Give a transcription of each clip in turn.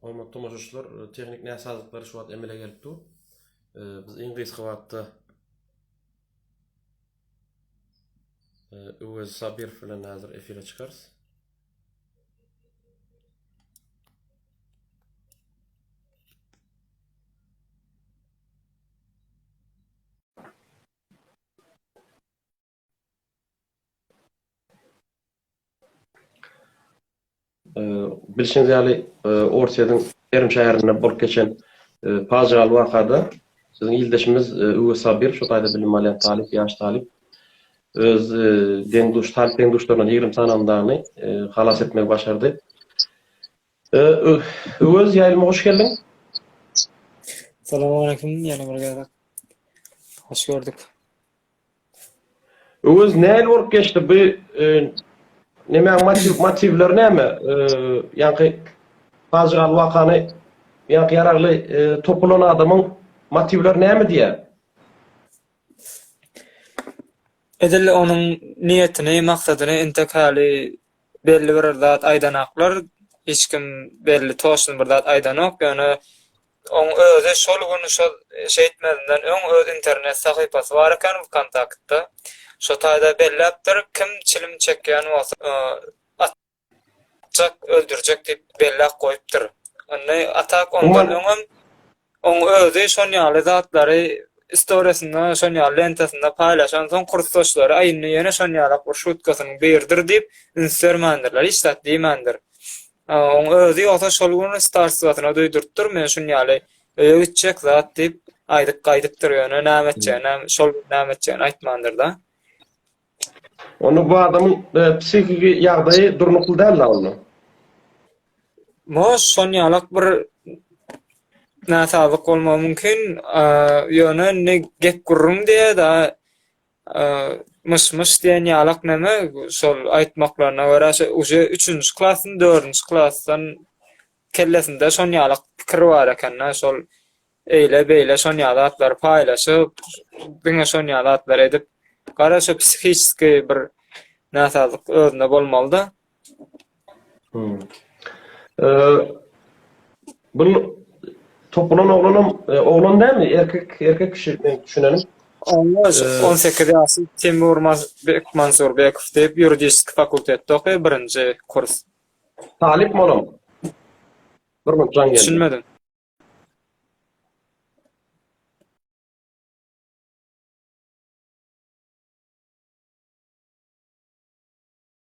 Hormatly tomaşaçylar, tehniki näsazlyklar şu wagt emele gelip dur. Biz iň gysga wagtda Öwez Sabir bilen häzir efire çykarys. Bilşiňiz ýaly, Orsýetiň Perm şäherinde bolup geçen pajygaly wakada biziň ildeşimiz Öwez Sabir, şu taýda bilim alýan talyp, ýaş talyp öz deň-duş, talyp deň-duşlaryndan ýigrimi sanandany halas etmegi başardy. Öwez, ýaýlyma hoş geldiň! Salam aleýkum, ýene bir gezek hoş gördük. Öwez näli bolup geçdi bu nemäň motiwleri näme? Ýaňky pajygaly wakany ýaňky ýaragly top ulan adamyň motiwleri näme diýýär? Edil onuň niýetini, maksadyny entek häli belli bir zat aýdanaklar. Hiç kim belli toçny bir zat aýdanok. Ýöne Oň özi şol gün şo şeýtmezinden öň öz internet sahypasy bar eken Vkontaktda. Şo taýda belläpdir, kim çilim çekýän bolsa atjak, öldürjek diýip belläp goýupdyr. Indi a tak ondan öňem oň özi şon ýaly zatlary istoriýasynda şon ýaly lentasynda paýlaşan soň kursdaşlary a indi ýene şon ýalak bir şutkasynyň biridir diýip üns bermändirler, hiç zat diýmändir. Oň özi ýogsa şol gün starswasyna duýdurypdyr, men şun ýaly öýe gitjek zat diýip, aýdyp gaýdypdyr, ýöne näme etjeginem, şol gün näme etjegini aýtmandyr-da. Onda bu adamyň psihiki ýagdaýy durnukly däl-la onda? Moş, şon ýalak bir näsazlyk bolmagy mümkin, ýöne indi gep gürrüň diýe-de, Myş myş diýen ýalak näme şol aýtmaklaryna görä uje üçünji klasyn dördünji klasdan kellesinde şon ýalak pikir bar ekende şol eýle beýle şon ýaly zatlary paýlaşyp diňe şon ýaly zatlar edip gara şu psihiçki bir näsazlyk özünde bolmalyda. Bul topulan oglanam oglan dämi? Erkek erkek kişi men düşünenim. Onda 18 ýaşly Temur Mazbek Mansurbekow diýip ýuridiski fakultetde okaýar birinji kurs. Talypmy olam? Bir minut jaň geldi. Düşünmedim.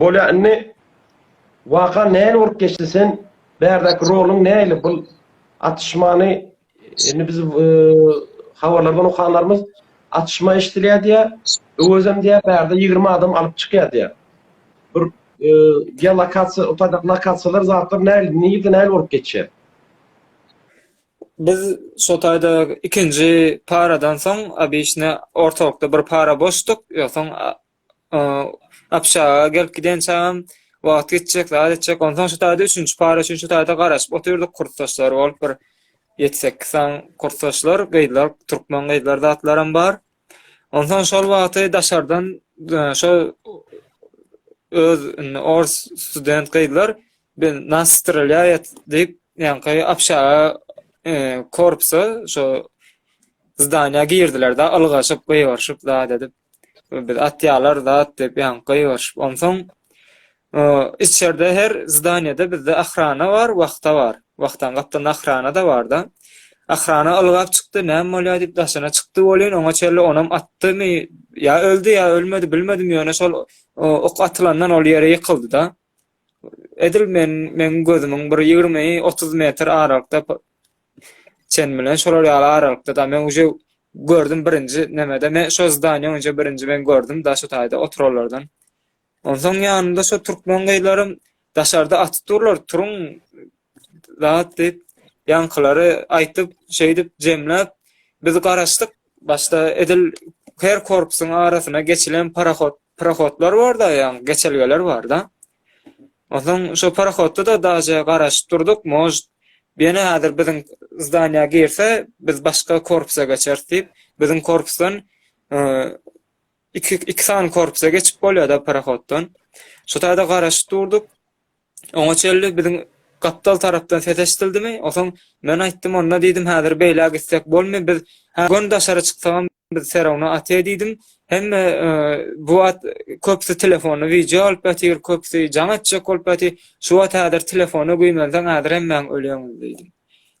Bolýa indi waka nähili bolup geçdi sen bärdäki roluň nähili bul atyşmany indi biz habarlardan okanlarymyz atyşma eşdilýär diýä öwezem diýä bärde ýigrimi adam alyp çykýar diýä bir geolokasiýa otadaki lokasiýalar zatlar nähili nirde nähili bolup geçýär. Biz şo taýda ikinji paradan soň obişne ortalykda bir para boşduk. Ýogsaň obşaga gelip gidençäm wagt geçjek, zat etjek. Onsoň şo taýda üçünji para üçin şo taýda garaşyp otyrdyk. Kursdaşlar bolup bir ýedi-sekiz sany kursdaşlar, gyzlar, türkmen gyzlar zatlaram bar. Ondan şol wagty daşardan e, şo öz indi ors student gyzlar bir nas strelýaýat diýip, ýaňky apşaga e, korpusa şo zdaniýa girdiler da ylgaşyp gyýaryşyp zat edip biz atýalar zat diýip ýaňky gyýaryşyp. Onsoň Içerde her zdanýada bizde ahrana bar, wahta bar. Wahtaň gapdalynda ahrana-da bar-da. Ahrana ylgap çykdy, näme bolýar diýip daşyna çykdy welin, oňa çenli onam atdymy, ýa öldi, ýa ölmedi bilmedim, ýöne şol ok atylandan ol ýere ýykyldy-da. Edil men, meň gözümiň bir ýigrimi, otuz metr aralykda çen bilen şolar ýaly aralykda-da. Men uje gördüm birinji nemede, men şo zdanýa uje birinji men gördüm daşy taýda oturanlardan. Onsoň ýanynda şo türkmen gyzlaram daşarda atyp durlar, turuň zat diýip, ýaňkylary aýtyp, şeýdip jemläp, biz garaşdyk. Başda edil her korpusyň arasyna geçilen parahod, prohodlar bar-da, ýaňy geçelgeler bar-da. Onsoň şo parahodda-da daže garaşyp durduk, может, ýene häzir biziň zdaniýa girse, biz başga korpusa geçeris diýip, biziň korpusdan Iki, iki sany korpusa geçip bolýar-da parohoddan. Şu taýda garaşyp durduk. Oňa çenli biziň gapdal tarapdan ses eşidildimi? Osoň men aýtdym, onda diýdim, häzir beýle gitsek bolmy? Biz hä göni daşary çyksagam biz serowna aty diýdim. Hemme e, bu wagt köpüsi telefonda wideo alyp ýatyr, köpüsi jaň etjek bolup ýatyr. Şu wagt häzir telefona güýmenseň häzir hemmäň ölýäňiz diýdim.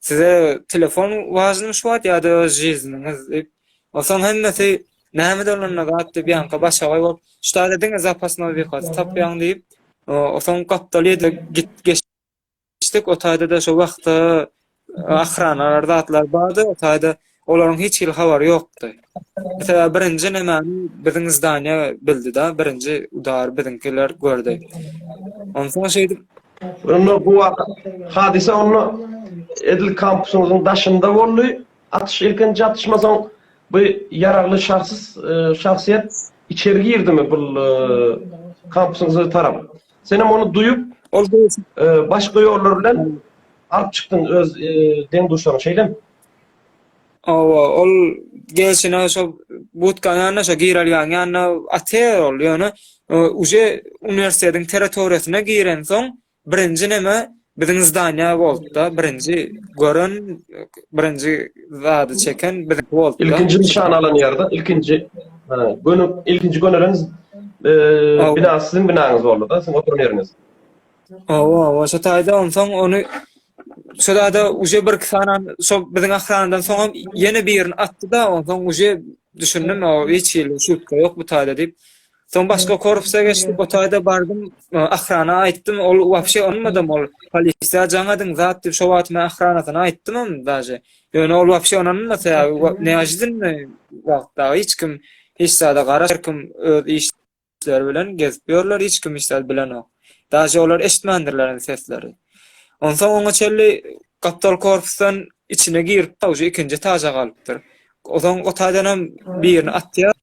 Size telefon wažnymy şu wagt ýa-da žizniňiz diýip. Osoň hemmesi Näme dolanyna gap diýip ýanka başagaý bolup, ştada diňe zapasny wekasy tapýaň diýip, o soň gapdal ýerde git geçdik, o taýda da şo wagtda ahranalar zatlar bardy, o taýda olaryň hiç hili habary ýokdy. Mesela birinji nämäni biziň zdaniýa bildi da, birinji udar biziňkiler gördi. Onsoň şeýdip Onda bu waka hadysa onda edil kampusyňyzyň daşynda boldy. Atyş ilkinji atyşma soň bu ýaragly şahsys şahsyýet içeri girdimi bul kampsyňzy tarap. Senem ony duýup ol başga ýollar bilen alyp çykdyň öz deň duşlaryň şeýlemi? Hawa ol gelşine şo butkanyň ýanyna şo girelgäň ýanyna atýar ol ýöne uje uniwersitetiň territoriýasyna girensoň Birinji näme biziň zdaniýa boltda birinji gören birinji zady çeken biz bolt. Ilkinji nişan alan ýerde ilkinji göni ilkinji gönülen bina siziň binaňyz boldy da siziň oturan ýeriňiz. Owa owa şo taýda onsoň ony şo taýda uje bir iki sany şo biziň ahranadan soň hem ýene birini atdy da onsoň uje düşündim o hiç hili şutka ýok bu taýda diýip Soň başga korpusa geçdik, o taýda bardym, ahrana aýtdym, ol wapşe onmadam ol polisiýa jaň ediň zat diýip, şo wagt men ahranasyna aýtdymam daže. Ýöne ol wapşe onanma sebäbi neažidinni wagtda hiç kim hiç zada garamaz, her kim öz işleri bilen gezip ýörler, hiç kim hiç zat bilenok. Daže olar eşitmändirler hem sesleri. Onsoň oňa çenli gapdal korpusdan içine girip, uje ikinji etaja galypdyr. Ozaň o taýdanam birini atýar.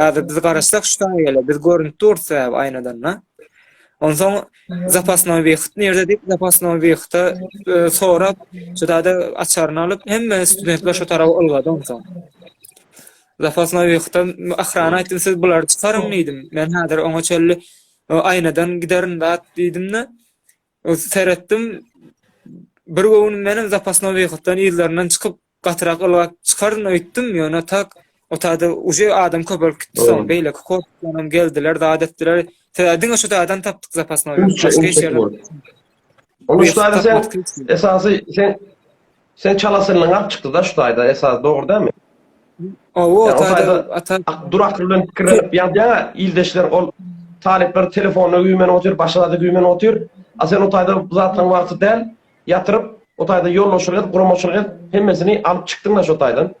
Häzir biz garaşsak şu taýa gele, biz görünip durus we aýnadan da. Onsoň zapasnoý wyhyt nirde diýip zapasnoý wyhyta e, sorap, şutada açaryny alyp, hemme studentler şu tarapa ylgady onsoň. Zapasnoý wyhyta ahrana aýtdym, siz bulary çykaryň diýdim. Men häzir oňa çelli e, aýnadan giderin dat diýdim-de, seretdim, bir göwün meniň zapasnoý wyhytdan ýyzlaryndan çykyp, Gatyrak ylgap çykaryn öýtdüm, ýöne tak, otagda uje adam köpelip gitdi, soň beýleki kotlanam geldiler, zat etdiler. Tä diňe şu taýdan tapdyk zapas noýaby. Başga hiç ýerden. Ony şu taýda sen esasy sen sen çala synyň alyp çykdy-da şu taýda esasy dogry dälmi? Owo, o taýda ata durakly bilen pikirlenip ýazýaň-a, ildeşler ol talyplar telefonda güýmenip otyr, başga zada güýmenip otyr. A sen o taýda bu zatlaryň wagty däl. Ýatyryp, o taýda ýolbaşçylyk edip, guramaçylyk edip, hemmesini alyp çykdyň-da şo taýdan?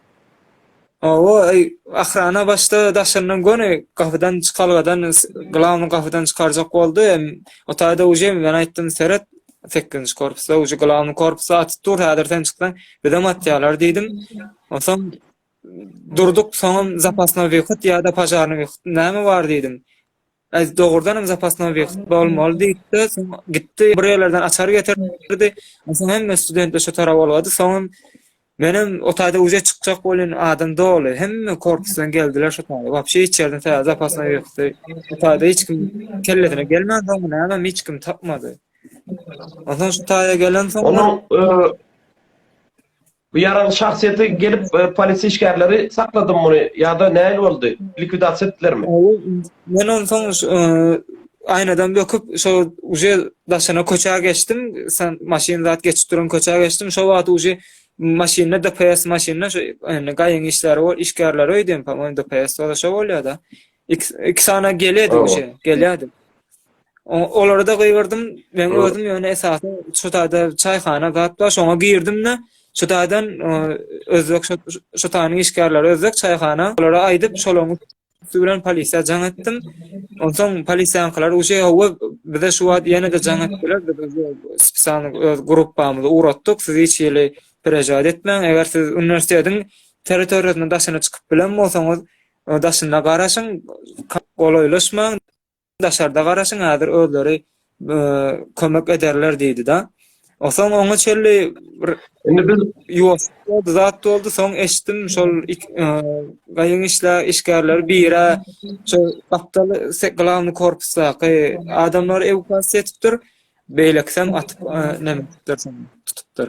Hawa, ahrana başda daşyndan göni gapydan çykalgadan, glawnyý gapydan çykarjak boldy. O taýda uje men aýtdym, seret, sekizinji korpusda uje glawnyý korpus atyp dur, häzir sen çyksaň, bizem atýarlar diýdim. Onsoň durduk, soňam zapasnoý wyhod ýa-da požarnyý wyhod näme bar diýdim. Aýt, dogrudan hem zapasny obýekt bolmaly diýipdi, soň gitdi, bir ýerlerden açar getirdi, onsoň hemme studentler şo tarap ulgady, soň hem menem o taýda uze çykjak welin adam doly, hemme korpusdan geldiler şo taýda, wapşe hiç ýerden taýýar zapasny obýekti bu taýda hiç kim kellesine gelmän soňmy nämemi hiç kim tapmady. Onsoň şu taýa gelensoň. Onuň Bu ýaraly şahsyýeti gelip polisiýa işgärleri sakladym muny ýa-da nähili boldy? Likwidasiýa etdilermi? Men onsoň aýnadan böküp şo uje daşyna köçä geçdim, maşyn zat geçip duran köçä geçdim, şo wagt uje maşynda DPS maşynda şo indi gaýyň işleri bor, işgärleri öýdýän, DPS-de şo bolýar-da. Iki sany gelýärdi uje, gelýärdi. Olary da gygyrdym. Men özüm ýöne esasy şu taýda çaýhana zat bar, şoňa girdim-de, şu taýdan özbek şu taýynyň işgärleri özbek çaýhana, olara aýdyp, şolaryň üsti bilen polisiýa jaň etdim. Onsoň polisiýaňkylar uje hawa bize şu wagt ýene-de jaň etdiler, biz spesialny öz gruppamyzy ugratdyk, siz hiç hili perejaýat etmäň, eger siz uniwersitetiň territoriýasynyň daşyna çykyp bilen bolsaňyz, daşynda garaşyň, golaýlaşmaň. Daşarda garaşyň häzir özleri kömek ederler diýdi-de. Osoň oňa çelli bir Indi biz ýuwaş boldy, zat boldy. Soň eşitdim şol gaýyň işle işgärleri bire şu gapdal glawny korpusdaky adamlar ewakuasiýa etipdir. Beýlekisem atyp näme etipdir, tutupdyr.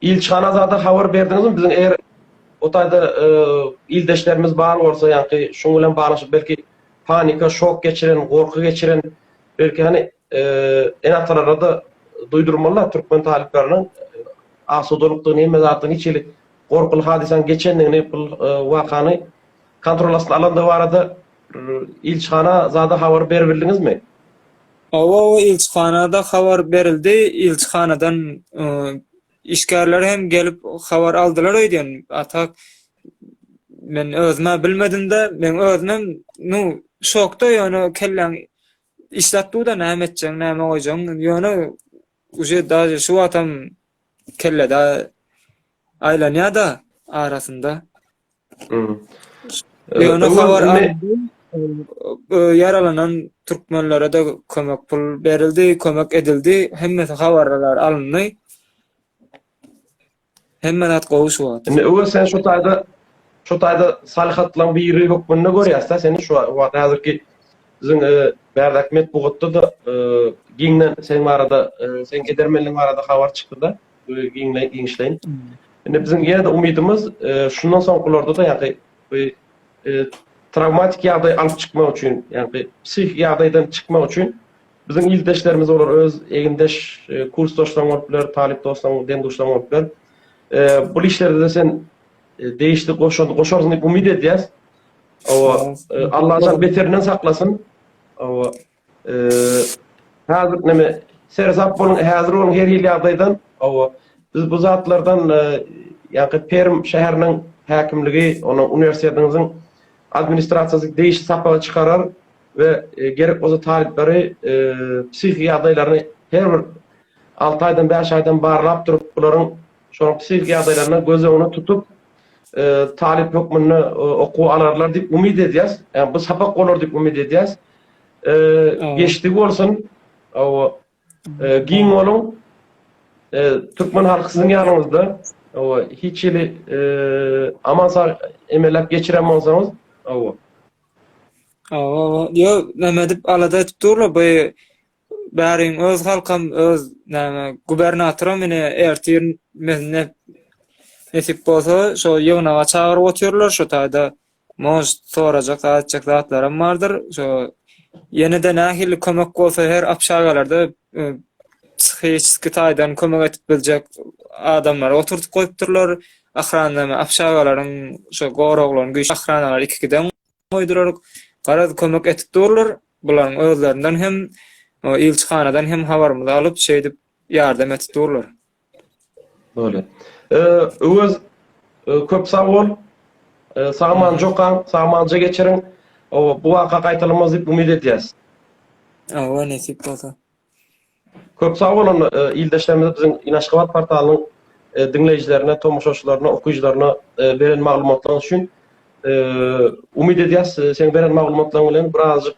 Ilçihan Azada habar berdiňizmi biziň eger o taýda ildeşlerimiz bar bolsa ýaňky şuň bilen baglaşyp belki panika şok geçiren gorky geçiren belki hany ene atalarada duýdurmalylar türkmen talyplarynyň asudalykdygy neme zatda niçelik gorkuly hadysaň geçendigini bul wakany kontrol astyna alandygy barada ilçihana zada habar beribildiňizmi? Oba we ilçihanada habar berildi, ilçihanadan işgärler hem gelip habar aldylar öýdýän. Atak men özüm-ä bilmedim-de, men özümem nu şokda ýöne kelläň işläp dur-da näme etjegiň, näme goýjagyň, ýöne uje daže şu wagtam kellede aýlanýa-da arasynda. Ýöne habar ýaralanan türkmenlere-de kömek pul berildi, kömek edildi. Hemmesi habarlar alyndy. Hemme zat gowy şu wagt. Indi öwez sen şu taýda şu taýda salyhatlaň biri hökmünde görýäs-de seni şu wagt häzirki biziň e, bärdäki metbugatda-da e, giňden sen barada, e, sen edermenligiň barada habar çykdy-da. we giňişleýin. Indi biziň ýene-de umydymyz, şundan soňkularda-da ýa-da bu trawmatik ýagdaý alyp çykmak üçin, ýagny psihiki ýagdaýdan çykmak üçin biziň ildeşlerimiz bolar, öz egindeş kursdaşlaryň bolup biler, talyp dostlaryň, deň-duşlaryň bolup biler. Bu işlerde-de sen degişli goşant goşarsyň diýip umyt edýäs. Hawa, Allajan beterinden saklasyn. Hawa, Häzir näme seresap boluň häzir boluň her hili ýagdaýdan hawa biz bu zatlardan ýa-da Perm şäheriniň häkimligi ony uniwersitetiňiziň administrasiýasy degişli sapaga çykarar we gerek bolsa talyplary psihiki ýagdaýlaryny her bir alty aýdan bäş aýdan barlap durup bularyň şonuň psihiki ýagdaýlaryna göz öňüne tutup talyp hökmünde okuwa alarlar diýip umyt edýäs. Ýa bu sapak bolar diýip umyt edýäs. Geçdigi bolsun. Hawa. Giň boluň. Türkmen halky siziň ýanyňyzda. Hawa, hiç hili aman sag emelläp geçiren bolsaňyz. Hawa. Hawa, hawa. Ýok, näme edip alada edip durlar bu Bäriň öz halkam öz näme gubernatoram ine ertir menne nesip bolsa şo ýygnaga çagyryp otyrlar şo taýda moş sorajak aýtjak zatlaram bardyr şo ýene-de nähili kömek bolsa her apşagalarda e, psihiki taýdan kömek edip biljek adamlary oturtup goýupdyrlar ahranlama apşagalaryň şo goraglaryň güýç ahranalary iki giden goýduraryk. Garaz, kömek etip durlar. Bularyň özlerinden hem, ilçihanadan hem habarymyzy alyp, şeýdip ýardam etip durlar. Doly. Öwez, köp sag bol. Sagamanja okaň, sagamanja geçiriň. Bu waka gaýtalanmaz diýip umyt edýäs. Hawa, nesip bolsa. Köp sag bolun ildeşlerimize biziň inaşgabat portalynyň diňleýjilerine, tomaşaçylaryna, okyjylaryna beren maglumatlaryňyz üçin. Umyt edýäs seň beren maglumatlaryň bilen birazajyk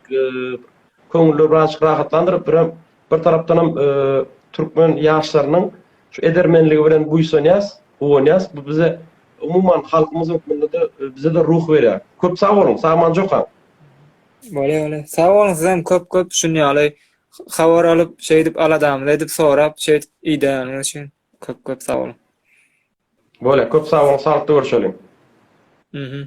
köňülleri birazajyk rahatlandyryp birem bir tarapdanam türkmen ýaşlarynyň şu edermenligi bilen buýsanýas, guwanýas bu bize umuman halkymyz hökmünde-de bizede ruh berýär. Köp sag boluň, sagman jokaň. Bole bole. Sag boluň sizem köp köp şun ýaly habar alyp, şeýdip aladamyzy edip sorap, şeýdip idäniz üçin köp köp sag boluň. Bolýa, köp sag boluň, saglykda görüşeliň. Mhm.